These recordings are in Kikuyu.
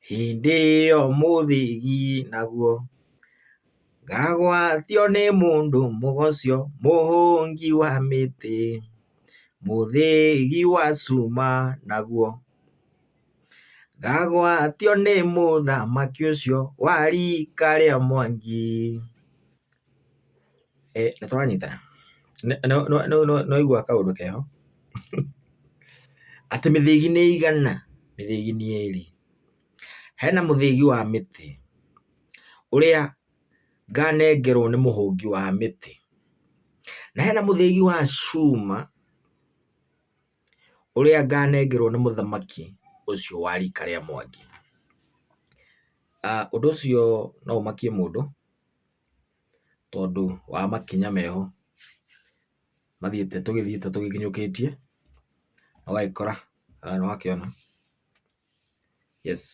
Hĩndĩ ĩyo mũthĩgi naguo, ngagwatio nĩ mũndũ mũgoco, mũhũngi wa mĩtĩ, mũthĩgi wa cuma naguo, ngagwatio nĩ mũthamaki ũcio wa rika rĩa Mwangi. Ĩ nĩ tũranyitana? Nĩ waigua kaũndũ keho? Atĩ mĩthĩgi nĩ igana? Mĩthĩgi nĩ ĩrĩ. Hena mũthĩgi wa mĩtĩ ũrĩa nganengerwo nĩ mũhũngi wa mĩtĩ, na hena mũthĩgi wa cuma ũrĩa nganengerwo nĩ mũthamaki ũcio wa rika rĩa Mwangi. Ũndũ ũcio no ũmakie mũndũ. tondũ wa makinya meho mathiĩte tũgĩthiĩte tũgĩkinyũkĩtie, ũgagĩkora haha nĩ wakĩona, yes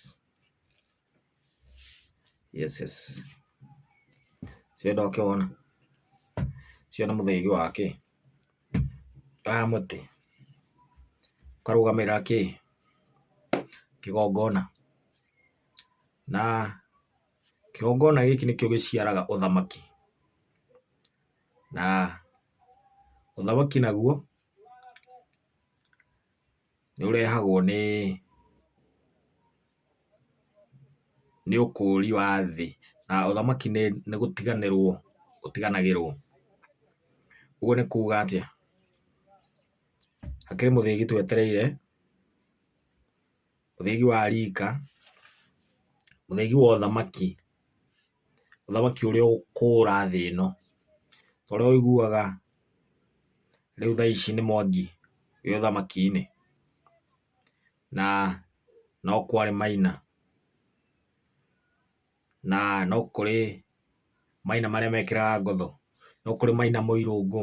yes yes ũcio ndwakĩwona? ũcio nĩ mũthaiga wa kĩ? wa mũtĩ ũkarũgamĩrĩra kĩ? kĩgongona na... Kĩgongona gĩkĩ nĩkĩo gĩciaraga ũthamaki, na ũthamaki naguo nĩ ũrehagwo nĩ nĩ ũkũri wa thĩ, na ũthamaki nĩ gũtiganĩrwo ũtiganagĩrwo. Ũguo nĩ kuga atĩa? Hakĩrĩ mũthĩgi twetereire. ũthĩgi wa rika, ũthĩgi wa ũthamaki, ũthamaki ũrĩa ũkũra thĩ ĩno, ta ũrĩa ũiguaga rĩu thaa ici nĩ Mwangi wĩ ũthamaki-inĩ, na no kwarĩ Maina. na no kũrĩ maina marĩa mekĩraga ngotho, no kũrĩ maina mũirũngũ,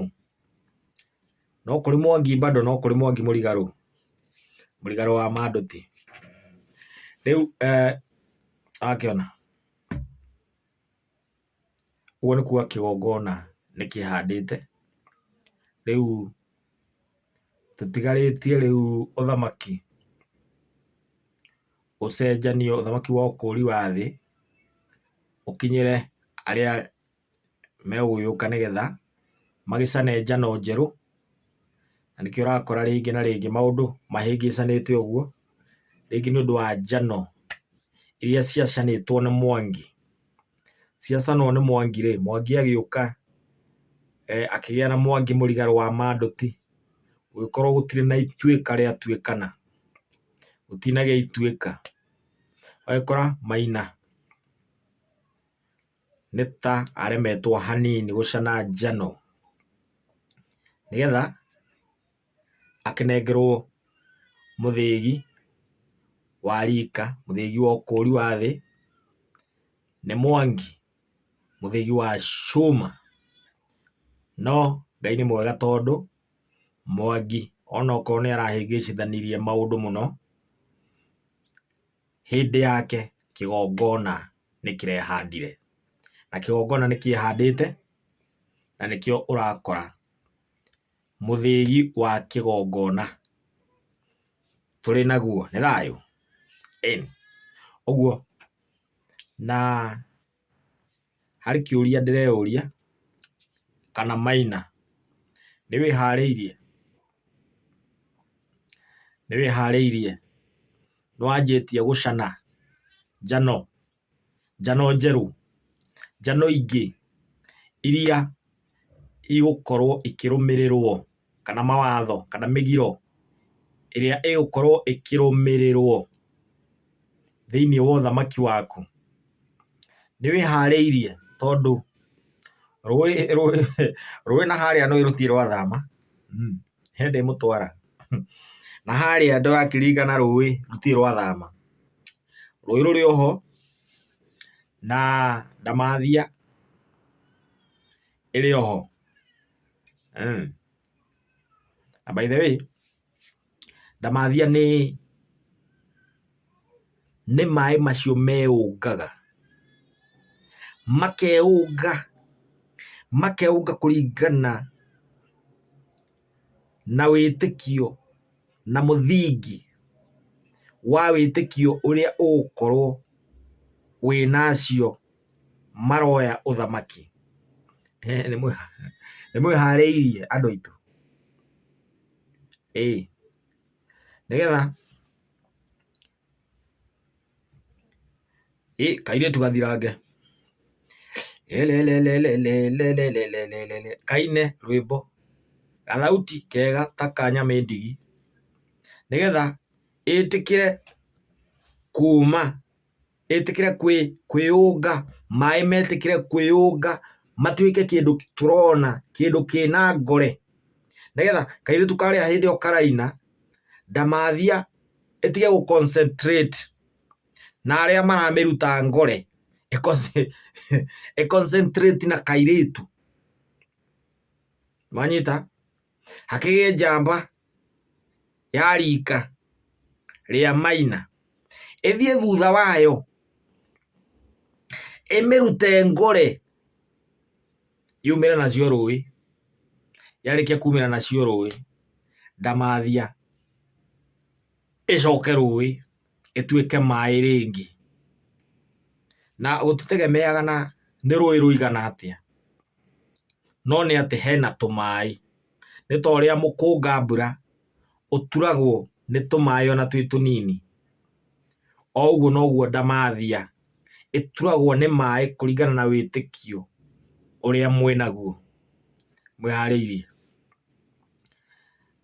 no kũrĩ mwangi bado no kũrĩ mwangi mũrigarũ, mũrigarũ wa mandũti. Rĩu eeh wakĩona, ũguo nĩ kuga kĩgongona nĩ kĩhandĩte, rĩu tũtigarĩtie rĩu ũthamaki. ũcenjanio, ũthamaki wa ũkũũri wa thĩ ũkinyĩre arĩa megũgĩũka nĩ getha magĩcane njano njerũ. Na nĩkĩo ũrakora rĩngĩ na rĩngĩ maũndũ mahĩngĩcanĩte ũguo, rĩngĩ nĩ ũndũ wa njano iria ciacanĩtwo nĩ Mwangi. Ciacanwo nĩ Mwangi rĩ, Mwangi agĩũka akĩgĩa na Mwangi Mũrigarũ wa Mandũti, gũgĩkorwo gũtirĩ na Ituĩka rĩa Tuĩkana. ũtinage ituĩka. Ũgagĩkora Maina nĩ ta aremetwo hanini gũcana njano nĩgetha akĩnengerwo mũthĩgi wa rika, mũthĩgi wa ũkũri wa thĩ nĩ Mwangi, mũthĩgi wa cuma. No Ngai nĩ mwega tondũ... Mwangi onokorwo nĩ arahĩngĩcithanirie maũndũ mũno, hĩndĩ yake kĩgongona nĩ kĩrehandire. Na kĩgongona nĩ kĩehandĩte, na nĩkĩo ũrakora. Mũthĩgi wa kĩgongona tũrĩ naguo. Nĩ thayũ? Ĩni. Ũguo, na... Harĩ kĩũria ndĩreyũria kana Maina nĩwĩharĩirie? Nĩwĩharĩirie? Nĩwanjĩtie gũcana njano? Njano njerũ? Njano ingĩ iria igũkorwo ikĩrũmĩrĩrwo? kana mawatho kana mĩgiro ĩrĩa ĩgũkorwo ĩkĩrũmĩrĩrwo thĩinĩ wa ũthamaki waku? Nĩ wĩharĩirie? Tondũ rũĩ na harĩa nĩũĩ rũtirĩ rwathama, he ndĩmũtwara, na harĩa ndĩrakĩringa na rũĩ rũtirĩ rwathama. Rũĩ rũrĩ o ho na ndamathia ĩrĩ o ho. Eeh. Na by the way, ndamathia nĩ nĩ maĩ macio meũngaga, makeũnga, makeũnga kũringana na wĩtĩkio na mũthingi wa wĩtĩkio ũrĩa ũgũkorwo wĩnacio. maroya ũthamaki. Nĩ mwĩharĩirie andũ aitũ? Ĩĩ. Nĩgetha ĩ kairĩtu gathirange kaine rwĩmbo gathauti kega ta ka nyamĩndigi nĩgetha ĩtĩkĩre kuma. ĩtĩkĩre kwĩ, kwĩyũnga, maĩ metĩkĩre kwĩyũnga matuĩke kĩndũ tũrona, kĩndũ kĩna ngore, nĩgetha kairĩtu karĩa hĩndĩ ĩyo karaina, ndamathia ĩtige gũ concentrate na arĩa maramĩruta ngore, ĩ concentrate na kairĩtu. Nĩwanyita? hakĩgĩe njamba ya rika rĩa maina ĩthiĩ thutha wayo ĩmĩrute ngore yumĩre nacio rũĩ yarĩkia kumĩra nacio rũĩ ndamathia ĩcoke rũĩ ĩtuĩke maĩ rĩngĩ. Na gũtitegemeaga na nĩ rũĩ rũigana atĩa, no nĩ atĩ hena tũmaĩ. Nĩ ta ũrĩa mũkũnga mbura ũturagwo nĩ tũmaĩ ona twĩ tũnini, o ũguo noguo ndamathia ĩturagwo nĩ maĩ kũringana na wĩtĩkio ũrĩa mwĩnaguo, mwĩharĩirie.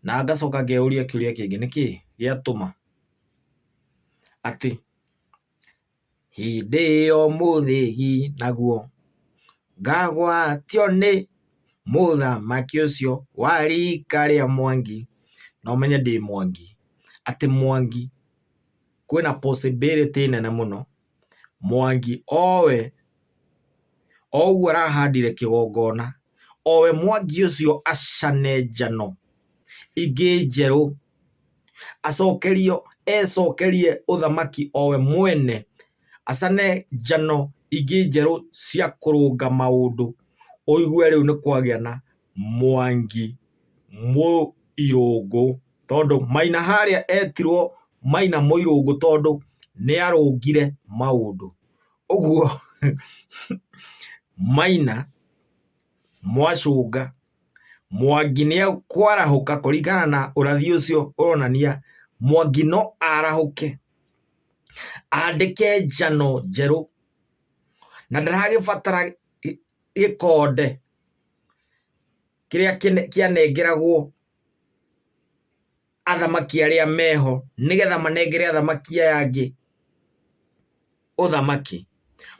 Na ngacoka ngeyũria kĩũria kĩngĩ, nĩkĩ gĩatũma atĩ, Hĩndĩ ĩyo mũthĩgi naguo, ngagwatio nĩ mũthamaki ũcio wa riika rĩa Mwangi, na ũmenye ndĩ Mwangi, atĩ Mwangi kwĩna possibility nene mũno. Mwangi owe oguo arahandire kĩgongona owe Mwangi ũcio acane njano ingĩ njerũ acokerio ecokerie ũthamaki owe mwene acane njano ingĩ njerũ cia kũrũnga maũndũ ũigue rĩu nĩ kwagĩa na Mwangi, Mũirũngũ, tondũ Maina harĩa etirwo Maina Mũirũngũ tondũ nĩarũngire maũndũ. Ũguo Maina, Mwacũnga, Mwangi nĩekwarahũka kũringana na ũrathi ũcio ũronania Mwangi no arahũke andĩke njano njerũ na ndaragĩbatara gĩkonde. kĩrĩa kĩanengeragwo athamaki arĩa meho nĩgetha manengere athamaki aya angĩ ũthamaki.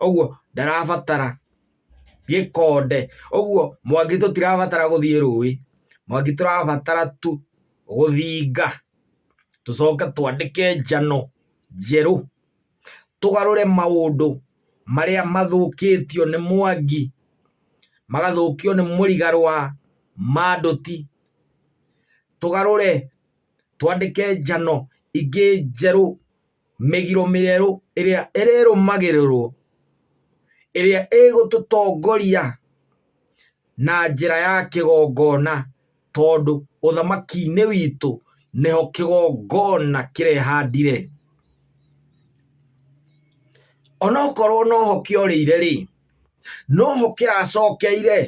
Ũguo ndarabatara gĩkonde. Ũguo Mwangi tũtirabatara gũthiĩ rũĩ, Mwangi tũrabatara tu gũthinga tũcoke twandĩke njano njerũ. tũgarũre maũndũ marĩa mathũkĩtio nĩ mwangi, magathũkio nĩ mũrigaro wa mandũti, tũgarũre twandĩke njano ingĩ njerũ, mĩgiro mĩerũ ĩrĩa ĩrĩrũmagĩrĩrwo, ĩrĩa ĩgũtũtongoria. na njĩra ya kĩgongona, tondũ ũthamaki-inĩ witũ nĩho kĩgongona kĩrehandire. Onokorwo noho kĩorĩire rĩ, noho kĩracokeire,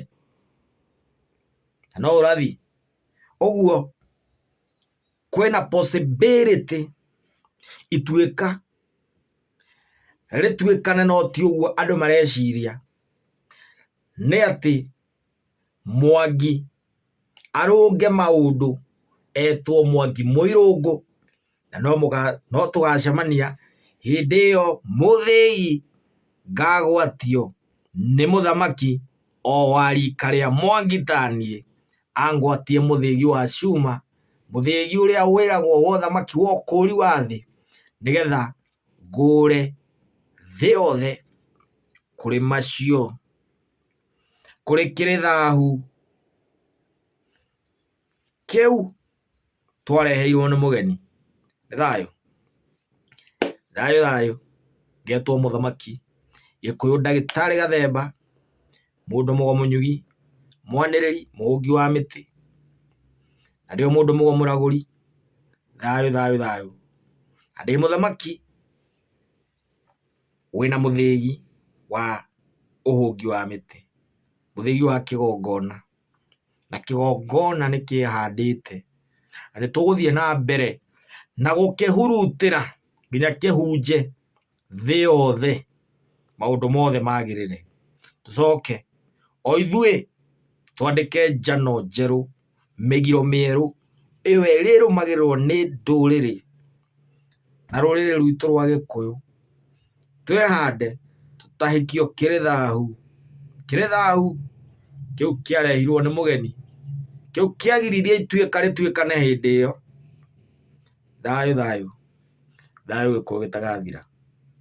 na no ũrathi. Ũguo kwĩna possibility ituĩka rĩtuĩkane no ti ũguo andũ mareciria. nĩ atĩ Mwangi arũnge maũndũ etwo Mwangi Mũirũngũ na no tũgacemania hĩndĩ ĩyo mũthĩi ngagwatio nĩ mũthamaki o wa rika rĩa Mwangi ta niĩ angwatie mũthĩgi wa cuma, mũthĩgi ũrĩa wĩragwo wa ũthamaki wa ũkũri wa thĩ nĩgetha... ngũũre thĩ yothe kũrĩ macio, kũrĩ kĩrĩ thaahu kĩu twareheirwo nĩ mũgeni. Nĩ thayũ? Thayũ thayũ. Ngetwo mũthamaki gĩkũyũ ndagĩtarĩ Gathemba, mũndũ mũgomũnyũgi, mwanĩrĩri, mũhũngi wa mĩtĩ, na ndĩ o mũndũ mũgomũragũri, thayũ thayũ thayũ, na ndĩ mũthamaki wĩna mũthĩgi wa ũhũngi wa mĩtĩ, mũthĩgi wa kĩgongona. na kĩgongona nĩ kĩhandĩte, na nĩ tũgũthiĩ na mbere na gũkĩhurutĩra nginya kĩhunje thĩ yothe maũndũ mothe magĩrĩre. Tũcoke o ithuĩ twandĩke njano njerũ, mĩgiro mĩerũ, ĩyo ĩrĩrũmagĩrĩrwo nĩ ndũrĩrĩ. na rũrĩrĩ rwitũ rwa gĩkũyũ, twĩhande tũtahĩkio kĩrĩ thahu. Kĩrĩ thahu kĩu kĩarehirwo nĩ mũgeni, kĩu kĩagiririe ituĩka rĩtuĩkane hĩndĩ ĩyo. Thayũ thayũ, thayũ gĩkũyũ gĩtagathira.